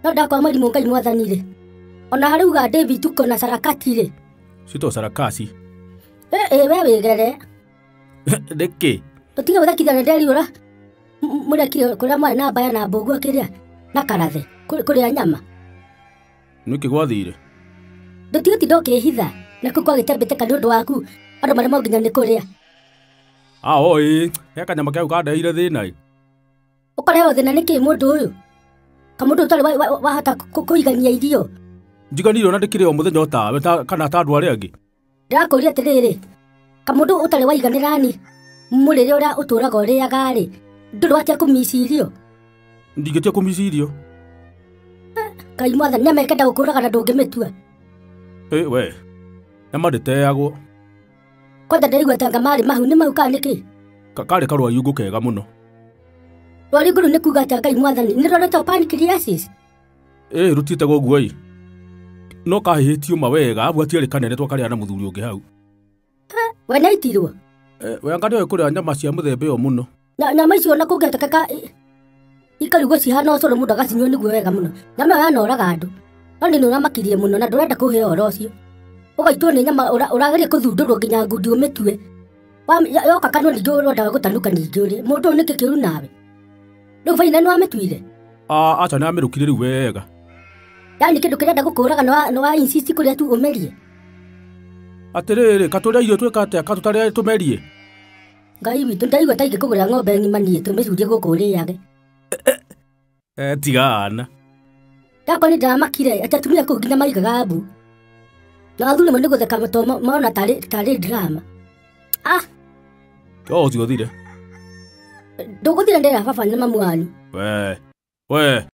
no ndakwa mũrimũ ngai mwathani rĩ ona harĩ uga david tuko na sarakati rĩ Sito sarakasi. Ĩ- ĩ we wĩgere Nĩkĩ? tũtige gũthakithia na nderiũra mũrekire kũrĩa mwarĩ na mbaya na mbũguo kĩrĩa na karathe kũ- kũrĩa nyama Nĩkĩ gwathire? ndũtige tinda ũkĩhitha na kũu kwagĩte mbĩtĩka nĩ ũndũ waku andũ marĩa monginya nĩ kũrĩa Aho ĩ, he kanyama kau kandeire thĩna ĩ. Ũkorewo thĩna nĩ kĩĩ mũndũ ũyũ? Kamũndũ ũtarĩ wa- wa- wahota kũ- kũigania irio. Njiganire ona ndĩkĩrĩ o mũthenya o tawe ta- kana ta andũ arĩa angĩ. Ndĩrakũria atĩrĩrĩ, kamũndũ ũtarĩ waiganĩra ni mũrĩre ũrĩa ũtũraga ũrĩaga-rĩ, ndũrĩ watia kũmici irio. Ndingĩtia kũmici irio. Ngai mwathani nĩamekenda gũkũraga na ndũngĩmĩtua. Ĩ we, nĩma ndĩteagwo. Kwanja ndĩraigua tanga marĩ mahu nĩ mahu kana nĩkĩ? Ka- Karĩ karwariungũ kega mũno. Rwariũngũ rũu nĩ kuuga atĩa Ngai mwathani? Nĩ rũretwo pancreasis? Ĩĩ rũtiĩte ũguo-ĩ. No kahĩhĩtio ma wega, abu atiarĩ kanene twakarĩa na mũthuri ũngĩ hau. We nĩaitirwo? Eh, we anga nĩoĩ kũrĩa nyama cia mũthemba ĩyo mũno. Na nyama icio na kũngĩatekeka ikarigwo cihana ũcũrũ mũndũ agacinyua nĩguo wega mũno. Nyama ĩyo yanoraga andũ. No nĩ ũramakirie mũno na ndũrenda kũhe ũhoro ũcio. Ũgaitwo nĩ nyama ũra- ũrageria kũthundũrwo nginya ngundi ũmĩtue. Wa- ya- Yoka kanua ningĩ ũrendaga gũtanuka ningĩ ũrĩ. Mũndũ ũyũ nĩkĩ kĩũru nawe? Rĩu baina nĩ wamĩtuire? Ah, aca nĩ amĩrũkire rĩu wega. Yaani kĩndũ kĩrenda gũkũraga nĩ wa- nĩ wa insist kũrĩa tu ũmerie. Atĩrĩrĩ, katũrĩa irio twĩka atĩa, katũtarĩa tũmerie. Ngai witũ ndaigua ta ingĩkũgũrĩra ng'ombe ng'ima niĩ tũmĩcurie gũkũ ũrĩage. Eh, tiga ana. Yakwa nĩ ndamakire atĩ atumia kũu nginya maigaga mbu. Na athuri mo nĩ gũtheka to mo- mona tarĩ tarĩ drama. Ah, To ũcio thire. ndũgũthira ndĩra baba nĩ mamu wanyu. We. We.